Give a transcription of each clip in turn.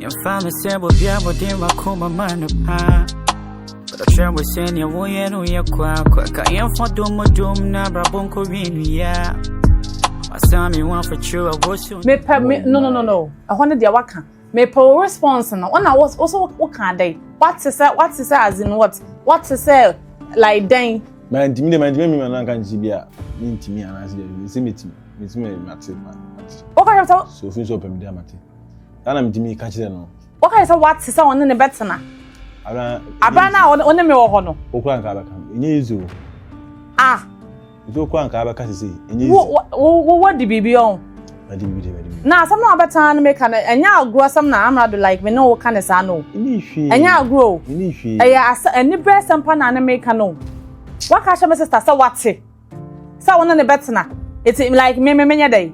Yɛmfa me sɛ bobi abɔde makoma ma no paa Ɔkyerɛ mo sɛ nea woyɛ no yɛ kwaakwa Ka yɛmfa domodom na abrabɔ nkɔwie nnua Ɔsan me ho afokyerɛ a wɔsu Mepɛ me no no no no ɛhɔ no deɛ waka mepɛ wo response no ɔna wo so woka adɛn wate sɛ wate sɛ as in what wate sɛ like dɛn mantimi deɛ mantimi mi ma no anka ne sɛ bi a mentimi anaasɛ deɛ sɛ metimi metimi mate mate woka kyerɛ sɛ so fi nso ɔpɛ me deɛ mate saa na metumi ka kyerɛ no. Wokae sɛ woate sɛ ɔne ne bɛtena. Abere no a ɔne me wɔ hɔ no. Wokura nka bɛka no, ɛnyɛ easy o. Ah. Nti wokura nka bɛka sese, ɛnyɛ easy. Wo wo wadi biribi ɔn. Wadi biribi de wadi biribi. Na asɛm na wabɛtena no meka no, ɛnyɛ agorɔ asɛm na amrado like me ne wo ka ne saa no. Ɛnyɛ hwee. Ɛnyɛ agorɔ o. Ɛnyɛ hwee. Ɛyɛ asɛ ɛni bɛrɛ asɛm pa na ne meka no. Waka ahyɛ me sister sɛ wate sɛ ɔne ne bɛtena. Eti like me me menyɛ dɛ.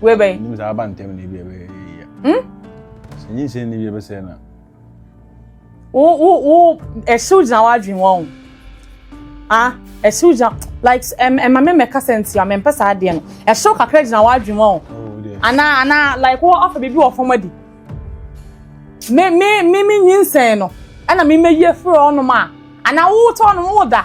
Wei bɛn. Nim sɛ aba ntɛm na ebi ɛbɛ yia. Hmm? Sɛ nyi nsɛn ni bi ɛbɛ sɛ na. Wo wo wo ɛsiw gyina w'adwene wɔn o. Ah ɛsiw gyina like ɛm ɛma mi mɛka sɛ nti a mɛmpɛ saa adeɛ no ɛsiw kakra gyina w'adwene wɔn o. Oh, ana ana like wo ɔfɛ bibi wɔ fam adi. Me me me me nyi nsɛn no ɛna me mɛ yi efiri ɔnom a ana wo tɔ ɔnom wo da.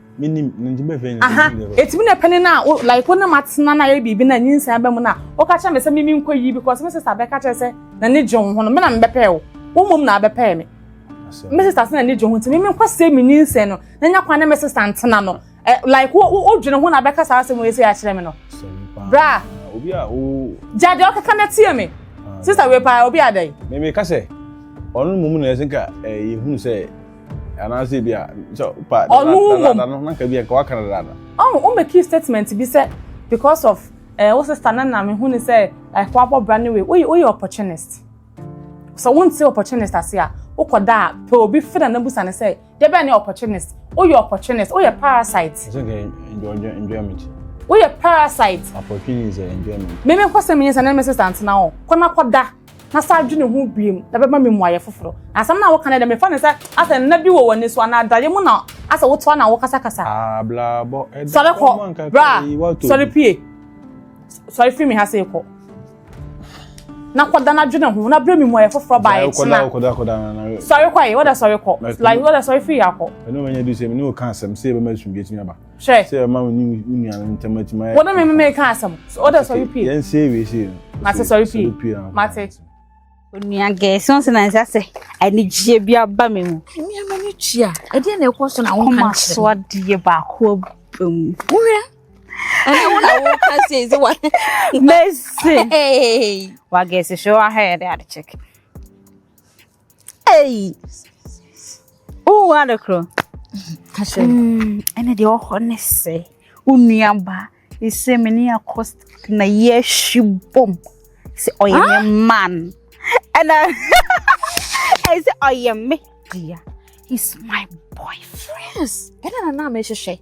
menim no nti bɛhwɛ nyina aha ɛtumi na ɛpɛne no a wo like wo ne ma tena no ayɛ biribi no a nyinsan ba mu no a woka kyerɛ me sɛ meme nkɔ yi because me sista bɛka kyerɛ sɛ na ne gye wo ho no me na mebɛpɛɛ wo wo mmom na abɛpɛɛ me me sista sɛ na ne gye ho nti meme nkɔ sɛ me nyinsɛn no na nya kwan ne me sista ntena no eh, like wo wo dwene ho na bɛka saa asɛm wei sɛ yɛakyerɛ me no bra obi a wo gya deɛ ɔkeka no atie me ah, sista wei paa obi adɛn meme ka sɛ ɔno mmom na ɛsɛ nka eh, yɛhunu sɛ anaasɛ ebia sɛ pa ɔno mmom na na nka bi nka waka no dada ɔn o make you statement bi sɛ because of ɛɛ eh, wo sister na na mehu ne sɛ like wabɔ bra ne wei woyɛ woyɛ opportunist sɛ wonte opportunist ase a wokɔ da a pɛ obi fɛ na na busa ne sɛ deɛ bɛn ne opportunist woyɛ opportunist woyɛ parasite ɛsɛ nka enjoy enjoyment woyɛ parasite opportunist enjoyment mímí nkɔsɛm yɛn sɛ ne mi sister ntena hɔ kɔ na kɔ da. na san dwene ho bio na ɛbɛma me mmuaeɛ foforɔ. Na asɛm no a woka no deɛ, mefa no sɛ asɛ nna bi wɔ w'ani so anaa adaeɛ mu na asɛ wotoa na wokasakasa. Sɔre kɔ, bra, sɔre pue. Sɔre firi me ha sei kɔ. Na kɔda na dwene ho na berɛ me mmuaeɛ foforɔ baa ɛkyena. Sɔre kɔ ayi, wada sɔre kɔ. Like, wada sɔre firi ha kɔ. Ɛno manya du sɛ, me ne wo ka asɛm sɛ yɛbɛma asomdwe atumi aba. Hwɛ. Sɛ ɛma wo ne wo nuanom ntam atumi ayɛ. Wo ne me me meka asɛm. So ɔda sɔre pie. Yɛn se ewie se no. Mate sɔre pie. Mate. Onua gɛ so nse na nsa sɛ anigyeɛ bi aba me mu. Mmea ma ne tua. Ɛdeɛ na ɛkɔ so na wo nka kyerɛ. So adeɛ baako aba mu. Wohwɛ. Ɛne wo na wo ka sɛ sɛ wa. Mercy. Hey. Wa gɛ se hwɛ wa hwɛ yɛ de ade check. Ei! Wowɔ ade korɔ. Ka kyerɛ me. Mm, ɛna deɛ ɔhɔ ne sɛ wo nuaba ɛsɛ me ne akɔ na yɛahwi bom sɛ ɔyɛ me ah! man ɛna ɛyɛ sɛ ɔyɛ me dea he's my boyfriend ɛna na na mehwehwɛ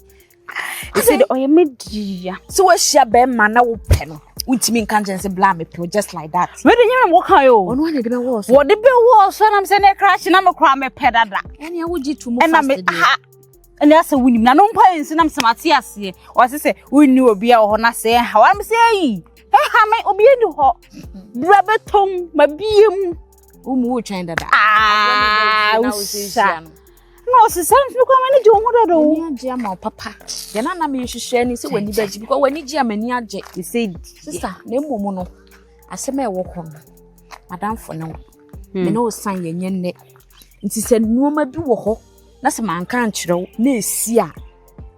ɛsɛ de ɔyɛ me dia sɛ woahyia bɛrima na wopɛ no wontumi nka nkyɛn sɛ bla mepɛ just like that mede nyɛ na wɔka ɛ o ɔno ane de bɛwɔɔ so wɔde bɛwɔɔ so nam sɛ ne kra hye na mekora mepɛ dada ɛne awogye to mu ɛna me ha ɛne asɛ wonim na no mpa ɛnsi nam sɛ mate aseɛ ɔse sɛ wonni obi a wɔ hɔ no asɛ ha wam sɛ ayi ɛha me obi ani hɔ berɛ bɛtɔm mabie mu womu wotwɛn dada ah, wosa na ɔsesa mfiri kwan m'ani gye wo ho dada o m'ani agye ama wo papa deɛ na na mehwehwɛ ni sɛ w'ani bɛgye because w'ani gye a m'ani agye ɛsɛ di sista na mmom no asɛm a ɛwɔ hɔ no madamfo ne wo hmm. me ne wo san yɛnyɛ nnɛ nti sɛ nneɛma bi wɔ hɔ na sɛ manka nkyerɛ wo na ɛsi a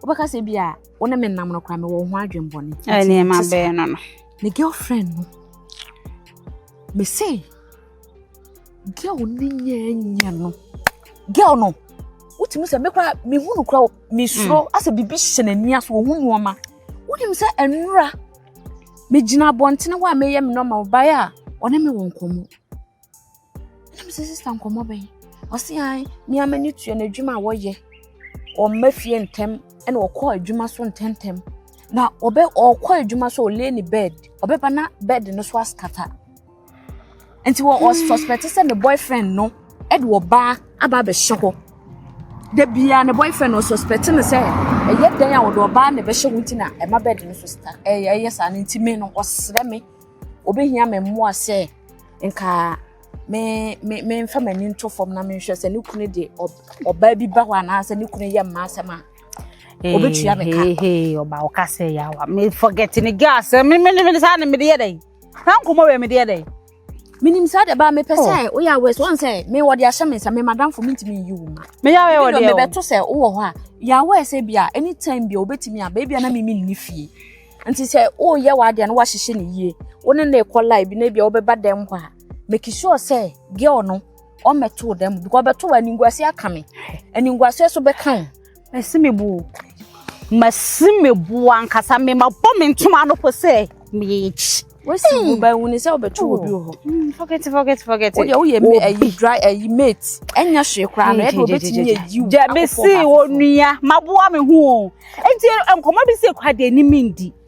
wobɛka sɛ bi a wo ne me nam no koraa mewɔ ho adwembɔne nneɛma bɛɛ no no me girlfriend no me se girl ne nyɛ nyɛ no girl no wotumi sɛ mekora mehu no kora mesuro mm. asɛ biribi hyɛ n'ani aso ɔhu nneɛma wonim sɛ ɛnora megyina abɔntene hɔ a meyɛ me nɔma ɔbaeɛ a ɔne me wɔ nkɔmmɔ na mesɛ sista nkɔmmɔ bɛn ɔse an mea m'ani tua no adwuma a wɔyɛ ɔmma fie ntɛm ɛna ɔkɔ adwuma so ntɛntɛm na ɔbɛ ɔkɔ adwuma so ɔlay ne bed ɔbɛba na bed no so askata nti wɔ wɔ suspect sɛ ne boyfriend no ɛde ɔbaa aba abɛhyɛ hɔ da biara ne boyfriend no suspect no sɛ ɛyɛ dan a wɔde ɔbaa na ɛbɛhyɛ wɔn ti na ɛma bed no so ɛyɛ ɛyɛ saa no nti me no ɔsrɛ me obehia me mmoa sɛ nka me me me nfa m'ani nto fam na me nhwɛ sɛ ne kunu de ɔbaa bi ba hɔ anaasɛ ne kunu yɛ mmaa asɛm a obetua me ka. ɔba ɔka sɛ yawa me forget ne gas me me ne me saa na me de yɛ dɛ. saa nkɔmɔ wɛ mi deɛ dɛ minim saa deɛ baa mepɛ sɛ oh. woyɛ awɛ so ɔn sɛ me wɔde ahyɛ me nsa me madamfo mentumi nyi wo ma meyɛ awɛ wɔ deɛ mebɛto sɛ wowɔ hɔ a yɛ awɛ sɛ bi a anytime bi a wobɛtumi a baabi a na mimi nni fie nti sɛ woyɛ w'adeɛ no woahyehyɛ no yie wo ne ne kɔ lie bi na bi a wobɛba dɛm hɔ a make sure sɛ girl no ɔmmɛto dɛm because ɔbɛto wɔ animguase aka me animguase so bɛka wo Masi me bo o. Masi me bo ankasa me ma bɔ me ntoma ano po sɛ me yɛ ekyi. Wasi wo ba hu ne sɛ wobɛto obi wɔ hɔ. Hmm, forget forget forget. Wo de wo yɛ me ayi dry ayi mate. Enya hwe kra no e de obetimi ye yiw. Ja me si onua maboa me ho o. Enti nkɔmɔ bi se kwa de ni me ndi.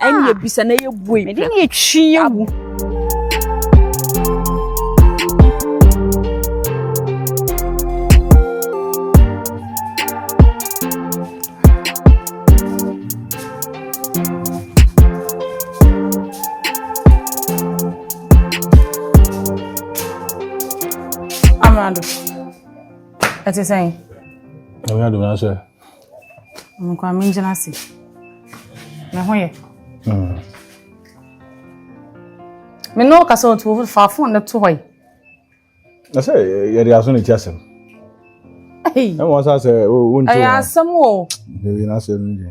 ɛne yɛ bisa na yɛ bue mede ne yɛtwi yɛ wu Amado, ɛte sɛn? Amado, na sɛ Nkwa me gyina ase. Me ho yɛ. Mm. Me no kasa otu ofu fa phone no to hoi. Na sɛ yɛ de aso ne ti asɛm. Ɛwɔ sɛ sɛ o nti. Ɛyɛ asɛm o. Dewi na asɛm ni.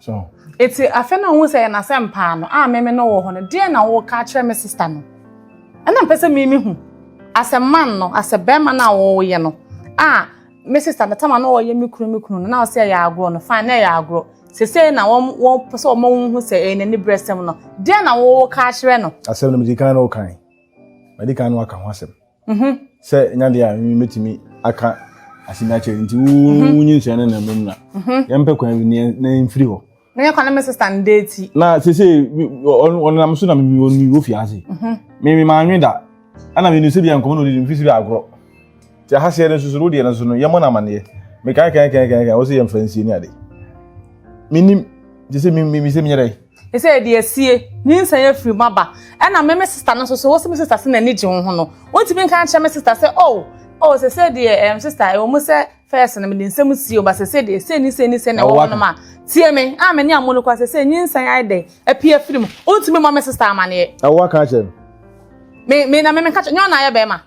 So. Eti afei na ohun sɛ yɛ n'asɛmpaa no, a meme no wɔ hɔ no, deɛn na woreka akyerɛ me sista no? Ɛna mpɛ sɛ mimi hu, asɛ man no, asɛ bɛrima no a woyɛ no, a me sista no, Tama no ɔyɛ me kunu, me kunu no, na ɔsɛ ɛyɛ agorɔ no, fine, na ɛyɛ agorɔ. Sesei na wɔn, wɔn pɛ sɛ wɔma wo hu sɛ ɛyɛ n'anibrɛsɛm no, deɛn na woreka akyerɛ no? Asɛm no medi kan no kan, madi kan no aka ho asɛm. Mhm. Sɛ nya deɛ a me mɛtumi aka asɛm akyerɛ nti mhm. wonyi nsua no na mmom na mhm. yɛmpɛ kwan bi na ɛmfiri hɔ meyɛ kwane me sista no dɛ ti na sese ɔnenam so na ɔni wɔ fie ase meme maanwe da ɛna menu sɛ bia nkɔmmɔ na ɔdidi mfiri sɛ bia agorɔ nti aha seɛ no nso so no wodeɛ no so no yɛmmɔ no amanneɛ mekae kae kae kae kae wɔ sɛ yɛmfa nsie ne ade menim gye sɛ mesɛ menyɛ dɛn Sɛ yɛde asie, nyinsɛn afiri mu aba. Ɛna me me sista no nso so, wo se me sista se n'ani gye wo ho no, wontumi nka nkyerɛ me sista sɛ, oh, oh, sese deɛ, ɛm sista, ɛwɔ mu sɛ fɛs no mede nsɛm sie o, ba sese deɛ, sei ne sei ne sei na ɛwɔ hɔ no ma, tie me, a me ne amu no kɔ sese, nyinsɛn ayɛ dɛ, apue afiri mu, wontumi mmɔ me sista amaneɛ. Ɛwɔ aka akyerɛ no. Me, me na me me nka kyerɛ, nyɛ ɔna ayɛ bɛrima.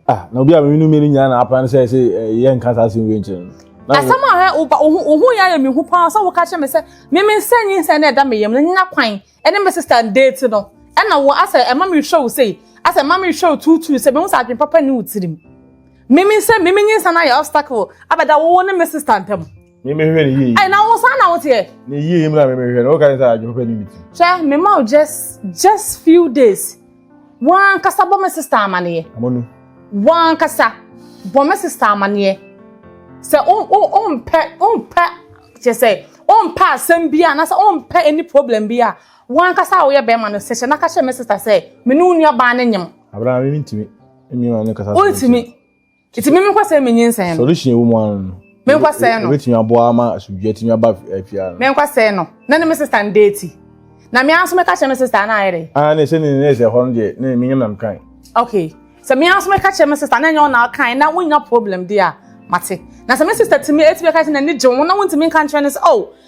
ah na obi a mene no mmienu nyinaa na apra no sɛ sɛ yɛ nka saa asɛm wei nkyerɛ no asɛm a hɛ woba wohu yɛ ayɛ me hu paa sɛ woka kyerɛ me sɛ meme nsɛ nyi nsɛ na ɛda me yam no nya kwan ɛne me sister date no ɛna wo asɛ ɛma me hwɛ wo sei asɛ ɛma me hwɛ wo tuutuu sɛ mehu sɛ adwen papa ne wo tirim meme nsɛ meme nyi nsɛ na yɛ obstacle abɛda wo ne me sister ntam Mímehwɛ ne yie. Ẹ na wo saa na wo teɛ. Ne yie yi mu na mímehwɛ no. Woka ne sɛ adwuma pɛ ne mi ti. Hwɛ me ma wo just just few days. Wọn kasa bɔ me sista amaneɛ. Amonu. Wọn kasa bɔ me sista amaneɛ. Sɛ o o o mpɛ o mpɛ kyɛ sɛ o mpɛ asɛm bi a na sɛ o mpɛ any problem bi a wọn kasa a woyɛ bɛrima no sɛ hyɛ na ka kyerɛ me sista sɛ me ne wo nua baa ne nyem. Abena mi mi ntumi. Mi ma ne kasa. O ntumi. Nti mímí nkɔ sɛ mi nyi nsɛn no. Solution ewu mu ano no. Mi nkɔ sɛn no. Ebetumi aboa ama asubidua tumi aba afia no. Mi nkɔ sɛn no. Na ne mi sista no deeti. Na mi anso mi ka kyerɛ mi sista na ayɛ dɛ. Ah ne sɛ ne ne sɛ hɔ no deɛ ne mi nyam nam kan. Okay. Sɛ mi anso mi ka kyerɛ mi sista na nyɛ ɔna kan na wonya problem di a mate. Na sɛ mi sista tumi etumi ka kyerɛ na ne gye ho na wontumi nka nkyerɛ ne sɛ oh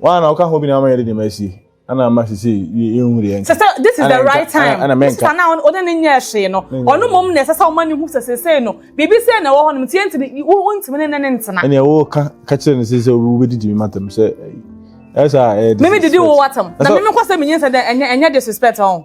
Wɔn a na ɔka ho bi na ama yɛde nneɛma asi ɛna ama sisi yɛ ehu deɛ nka. Sɛsɛ this is the right time. Ɛna mɛnka. Sika na ɔde ne nyɛ ɛhwee no. Ɔno mmom na ɛsɛ sɛ ɔma ne hu sɛ sese no biribi sɛ na ɛwɔ hɔ nom tie ntini wo ntumi ne ne ntena. Ɛna ɛwɔ ka ka kyerɛ ne sɛ obi obi didi mi matam sɛ ɛsa ɛyɛ disrespect. Mimi didi wo watam. Na mimi kɔ sɛ mi nyɛ sɛ dɛ ɛnyɛ ɛnyɛ disrespect ɔn.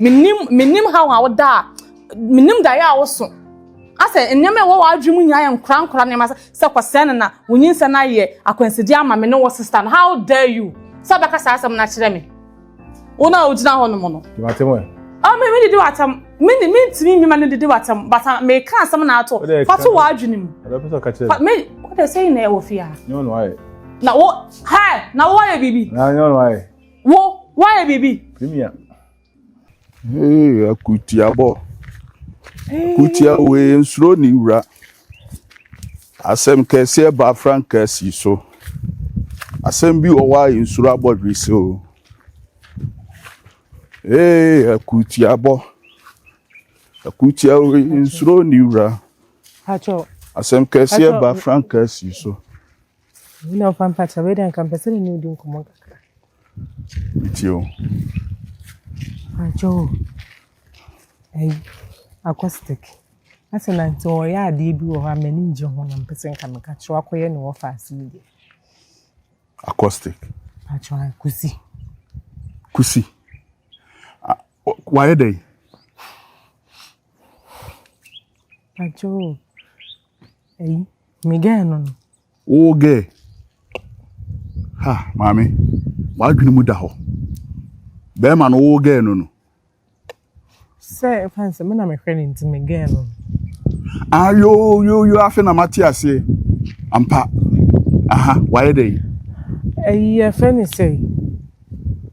Menim, menim haw a woda a, menim daeɛ a woso. Asɛ nneɛma a ɛwɔ w'adwene mu nyinaa yɛ nkorankora nneɛma sɛ sɛ kɔsɛɛ no na wo nyinsɛn ayɛ akwansideɛ ama me ne wo sista no. How dare you sɛ wobɛka saa asɛm no akyerɛ me? Wo na wogyina hɔ nom no. Di m'atɛm ɛ. Ah, me me didi w'atɛm. Me ne me ntumi mmema no didi w'atɛm. Bata ah, me ka asɛm na ato. Fa to w'adwene mu. Ɛbɛ pɛ sɛ ɔka kyerɛ. Me, what they saying na ɛwɔ fie ha. Nyɛ ɔno ayɛ. Na wo, hi, na wo ayɛ biribi. Na nyɛ ɔno ayɛ. Wo, woayɛ biribi. Premier. Hey, akutiabɔ. Kutia wei nsuro ne wura. Asɛm kɛseɛ ba frankaa si so. Asɛm bi wɔ hɔ a nsuro abɔ dwese o. Hey, akutiabɔ. Akutia wei nsuro ne wura. Asɛm kɛseɛ ba frankaa si so. Wona wo pampa kyɛ wei dɛ nka mpɛ sɛ ne ne wodi nkɔmmɔ kakra. Metie o. Ankyɛ o. Ayi, acoustic. Asɛ na nti ɔyɛ adeɛ bi wɔ hɔ a m'ani ngye ho na mpɛ sɛ nka meka kyerɛ wakɔyɛ ne wɔfa ase yi deɛ. Acoustic. Atwa kusi. Kusi. Wayɛ dɛ. Ankyɛ o. Ayi, Me gɛɛ no no. Wo gɛɛ. Ha, maame, w'adwene mu da hɔ. Bɛrima no wo gɛɛ no no. Sɛ ɛfa nsɛ me na mehwɛ no nti me gɛɛ no no. Ah, yo, yo, yo, afe na mate aseɛ. Ampa. Aha, wayɛ dɛ. Ɛyi yɛfɛ ne sɛ.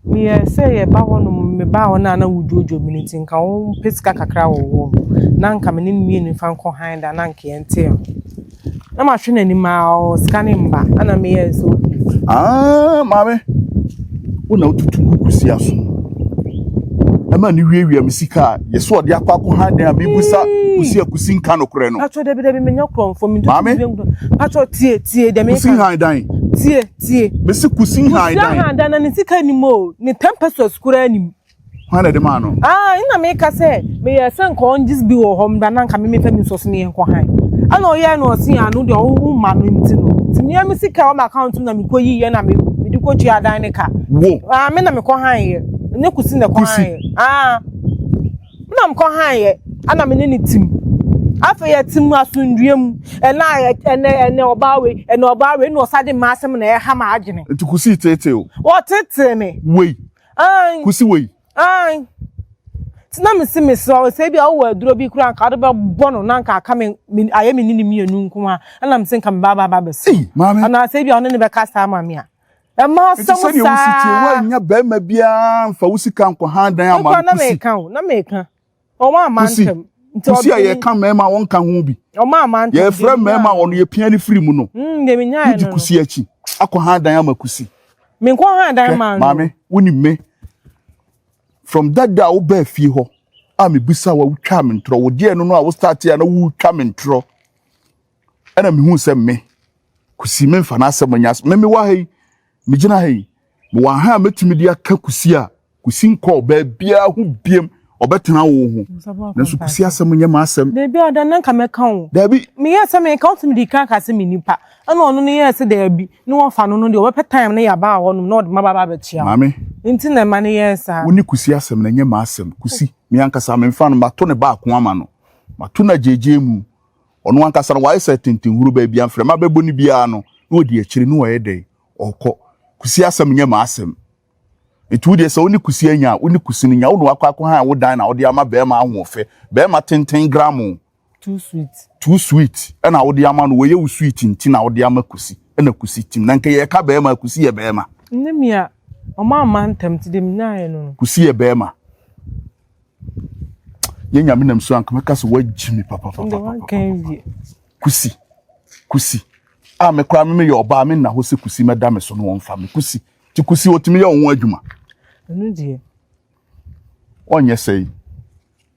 Meyɛ sɛ yɛba hɔ nom mebaa hɔ no a na wodwoodwoo me no nti nka wɔmpɛ sika kakra wɔ hɔ o, na nka me ne no mmienu mfa nkɔ hann da na nka yɛnte ho. Na mahwɛ n'anim ara o, sika no mma, ɛna meyɛɛ sɛ okay. Ah, maame, wo na wotutu gu Kwesi aso. Ɛma ne wiawia me sika a yɛsɛ ɔde akɔ akɔ hann dan a mebusa Kwesi a Kwesi nka nokorɛ no. Patro, dabi dabi, menya kurɔmfoɔ, mentɔ Maame. Patro, tie, tie, deɛ meka. Kwesi hann dan. Tie. Tie. Mesi kusi ahan dan. Kusi ahan dan na ne sika nim o, ne ten pesos koraa nim. Hwan na ɛde maa no? Ah, ɛna meka sɛ meyɛ sɛ nka ɔngye bi wɔ hɔ mba na nka meme fɛ me nsɔs ne yɛn kɔ han. Ɛna ɔyɛ na ɔse ano deɛ ɔwo ma no nti no. Ti mea me sika wɔ m'account mu na mekɔ yi yɛ na me mede kɔ tua dan ne ka. Wo. Ah, me na mekɔ han yɛ. Ɛnyɛ kusi na ɛkɔ han yɛ. Ah. Nna mekɔ hann yɛ, ana me ne no tsim. Afei yɛtse mu asomdwee mu, nna ɛnɛ ɛnɛ ɔbaa wei, ɛnɛ ɔbaa wei, nna ɔsan dze m'asɛm na ɛreha m'adwene. Nti kosii tseetsee o. Wɔtseetsee me. Wei. Aane. Kosi wei. Aane. Nti na mese mesrɛ wo sɛ ebi a wowɔ aduro bi koraa nka wode bɛbɔ no na nka aka me ayɛ me ne no mmienu nko ara ɛna mese nka mebaa baa bɛsɛ anaasɛ ebi a ɔne ne bɛkasa ama me a Ɛma asɛm saa. Ɛte sɛ deɛ wosi tie woannya barima biara mfa wo sika nkɔhan dan ama no kusi. Na meka o, wɔn ama ntɛm. Kusi a yɛka mmarima wɔn nka ho bi. Wɔn ama ntɛm. Yɛfrɛ mmarima wɔn yɛpia ne firi mu no. Hmm, deɛ menya yɛ no. Wodi kusi akyi akɔhan dan ama kusi. Menkɔhan dan maa no. Maame, wonim me. From that day a wobaa fie hɔ a mebisa wa wotwa me ntorɔ. Wodeɛ no no a wo start a na wotwa me ntorɔ. ɛna mehuu sɛ me kusi memfa n'asɛm nyɛ asɛm me mewɔ ha yi megyina ha yi mewɔ ha a mɛtumi de aka kusi a kusi nkɔɔ baabiara ho biem ɔbɛtena wo ho nanso kusi asɛm nyɛ m'asɛm daabi a ɔda na nka mɛka wo daabi meyɛ sɛ meka wotumi de kan ka sɛ me nipa ɛna ɔno no yɛ sɛ daabi ne wɔfa no no deɛ ɔbɛpɛ time ne yɛaba hɔ nom na ɔde maba ba bɛkyia maame nti na ɛma no yɛ saa wo ne kusi asɛm na ɛnyɛ m'asɛm kusi me ankasa memfa no mato ne baako ama no mato no agyegye mu Ɔno ankasa no, wayɛ sɛ tentenhuru, baabi a mframa bɛbɔ no biara no, na ɔdi akyire, na ɔyɛ dɛn? Ɔkɔ. Kusi asɛm nyɛ m'asɛm. Nti wo deɛ sɛ wo ne kusi anya a, wo ne kusi no nya. Wo ne wakɔ akɔhan wo dan na wode ama barima ahoɔfɛ, barima tenten gramo, Too sweet. too sweet, ɛna wode ama no, wɔyɛ wo sweet nti na wode ama kusi, ɛna kusi tim. Na nka yɛreka barima a, kusi yɛ barima. Nne me a, ɔma mma ntɛm, nti deɛ menyaeɛ no no. Kusi yɛ barima. yɛ nyame nam so anka mɛka sɛ woagyi me papapapapapa kusi kusi a me koraa me meyɛ ɔbaa me nna hɔ sɛ kusi mɛda me so no wɔmfa me kusi nti kusi ɔtumi yɛ wo ho adwuma ɛno deɛ ɔnyɛ sɛi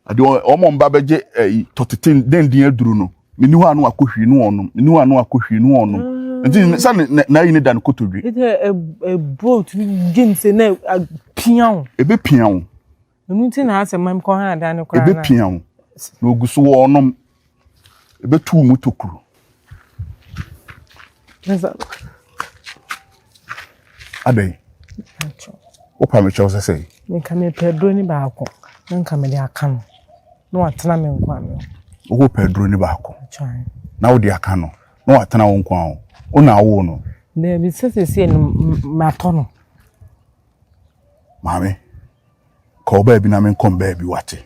ade ɔmɔ mba bɛgye ɛyi eh, tɔtete dendin aduru no meni hɔ ano akɔ hwii no ɔnom meni hɔ ano akɔ hwii no ɔnom ah. nti sɛ n'ayi ne da no kotodwe ɛburo tumi gye ne sɛ na apia wo ɛbɛpia wo Ɛno nti na asɛ mam kɔ ha da no koraa na. Ɛbɛpia wo na ɔgu so wɔ ɔnom. Ɛbɛtu wo mu tokuro. Adɛn? Wopa me kyɛw sɛ sɛn? Nka mepɛ aduro ne baako na nka mede aka no na watena me nkwa no. Wopɛ aduro ne baako na wode aka no na watena wo nkwa ho. Wo na awo no. Daabi sɛ sɛsɛ no matɔ no. Maame, kɔ baabi na menkɔ mbaabi wate.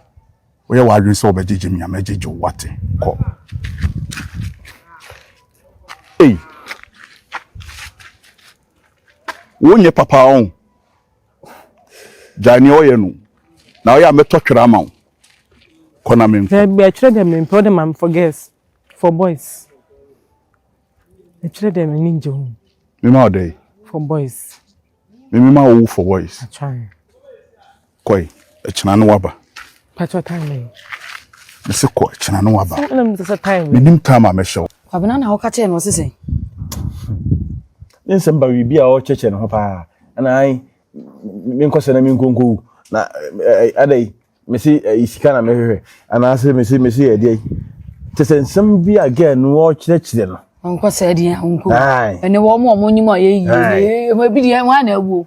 Woyɛ w'adwene sɛ wɔbɛgyegye me a mɛgyegye wo wate. Kɔ. Ei! Wonyɛ papa ɔn. Gyae nea ɔyɛ no. Na ɔyɛ a mɛtɔ twere ama wo. Kɔ na menkɔ. Dabi, ɛkyerɛ dɛ mempɛ wo dɛ ma me for girls, for boys. Ɛkyerɛ dɛ m'ani ngye ho. Mema wo dɛn? For boys. Mimi ma wo for voice. Atwan. Koi, ɛkyena no waba. Pacho time me. Me se kɔ ɛkyena no waba. Sɛ na me se time. Me nim time a me hyɛ. Kwabena na ɔka kyerɛ no ɔse sɛn. Ne nsɛm ba biribi a ɔkyɛkyɛ ne ho paa. Ana ai me nkɔsɛ na me nkonkowu. Na adai mese ɛyi sika na mehwehwɛ anaasɛ mese mese yɛ deɛ te sɛ nsɛm bi a gɛɛ no ɔkyerɛkyerɛ no. nkɔ sɛ ɛdeɛ nko ɛne wɔn mu wɔn nyim a yɛ yie ɛmu ebi deɛ wɔn ana ewu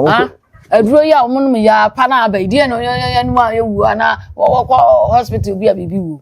ah aduro yi a wɔn nom yɛ apa na aba yi deɛ no yɛ yɛ nom a ewu ana wɔkɔ hospital bi a biribi wu.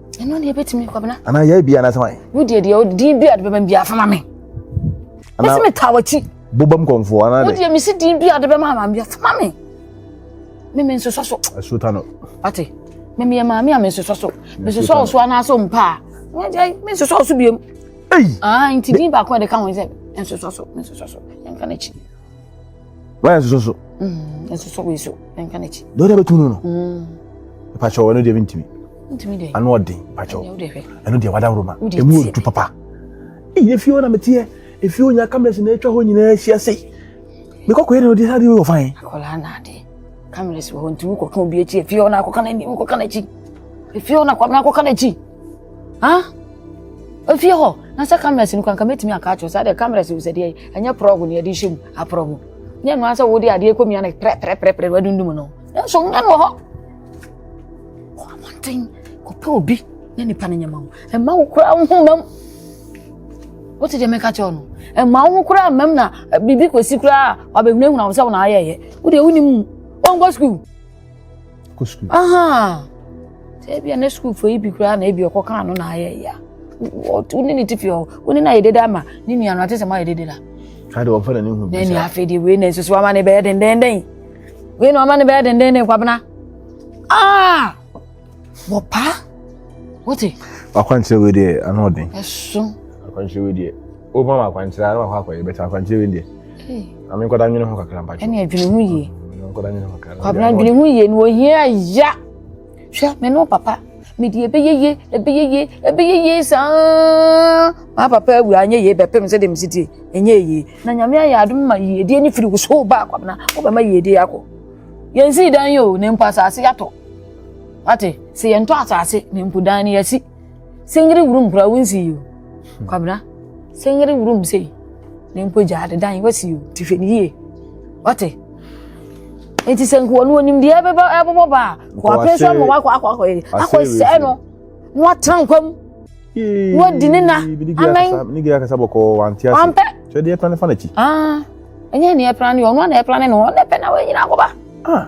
ɛno deɛ ɛbɛtumi kwabena anaa yɛyɛ bia anasɛ wan wo deɛ deɛ din bi a de bɛbɛm bia fama me mɛsɛ metaa wakyi bobam kɔmfoɔ anaa de wodeɛ mesi din bi a de bɛma ama bia fama me me me nsosɔ so asuta no ate me meyɛ maame a me nsosɔ so me nsosɔ wo so anaasɛ mpa a me nsosɔ wo so biom nti din baako a de ka ho sɛ nsosɔ so me nsosɔ so yɛnka no akyi wayɛ soso so ɛsosɔ wei so ɛnka n'akyi deɛ wode bɛtum no no pakyɛ ɔno deɛ mentumi ano ɔden pakyɛ ɛno deɛ wadaworo ma ɛmu ɔdu papa ɛyɛ fie hɔ na meteɛ ɛfie hɔ nya cameras na ɛtwa hɔ nyinaa hyia sei mekɔkɔyɛ na ɔde sade wɔ fan cameras wɔ hɔ ntumi kɔka obi akyi ɛfie hɔ na akɔka n'anim kɔka n'akyi ɛfie hɔ na akɔka n'akyi ha ofie hɔ na sɛ cameras no kwanka mɛtumi aka akyerɛ sɛ adeɛ cameras no sɛ deɛ ɛnyɛ prɔgo ne ɛde hyɛ mu aprɔgo ne ɛno ara sɛ wode adeɛ kɔmia no prɛprɛprɛprɛ wadundum no nanso wonya no wɔ hɔ kɔ abɔnten kɔpɛ obi ne nipa no nyɛma wo ɛma wo koraa wo ho mam wote deɛ mɛka kyerɛ no ɛma wo ho koraa mam na eh, biribi kɔsi koraa wabɛhunahuna wo sɛ wo na ayɛyɛ wodeɛ wonim mu wɔnkɔ sukuu kɔ sukuu. sɛ ebi a ne sukuufo yi bi koraa na ebi ɔkɔ kaa no na ayɛ ya wo ne ne ti fi hɔ wo ne no ayɛ dede ama ne nua no ate sɛ moayɛ dede la ade wɔmfa n'ani hu bi sa afei deɛ wei na nsusu ama ne bɛyɛ dendenden wei na ɔma ne bɛyɛ dendenden kwabena ah wɔpa wote wakwankyerɛ wei deɛ ano ɔden ɛso akwankyerɛ wei deɛ woma ma akwankyerɛ ara wakɔ akɔyɛ bɛtɛ akwankyerɛ wei deɛ na me nkɔda nwene ho kakra mpatwɛ ɛne adwene ho yie nkɔda nwene ho kakra kwabena adwene ho yie na ohia ya hwɛ me ne papa mede ɛbɛyɛ yie ɛbɛyɛ yie ɛbɛyɛ yie saa maa papa awura anyɛ yie bɛpem sɛ dem sitie ɛnyɛ yie na nyame ayɛ adom ma yiedie ne firi wo so ba kwabena wobɛma yiedie akɔ yɛnsii dan yi o ne mpo asase yɛatɔ ate sɛ yɛntɔ asase ne mpo dan no yɛasi sɛnyere wurum kura wo nsi yi o hmm. kwabena sɛnyere wurum sei ne mpo gya adedan wasi o ti hwɛ ne yie wate nti sɛ nkoa no onim deɛ ɛbɛbɔ ɛbɛbɔ ba a kɔapɛ sɛ ɔmo wakɔ akɔ akɔ akɔ sɛɛ no na watena nkwa mu na wadi ne na amɛn ne gɛɛ akasa bɔkɔɔ wante ase wampɛ twɛdeɛ pɛn ne fa n'akyi ɛnyɛ ne ɛpra ne ɔno a na ɛpra ne no ɔno ɛpɛ na wɔnyina akɔba ah.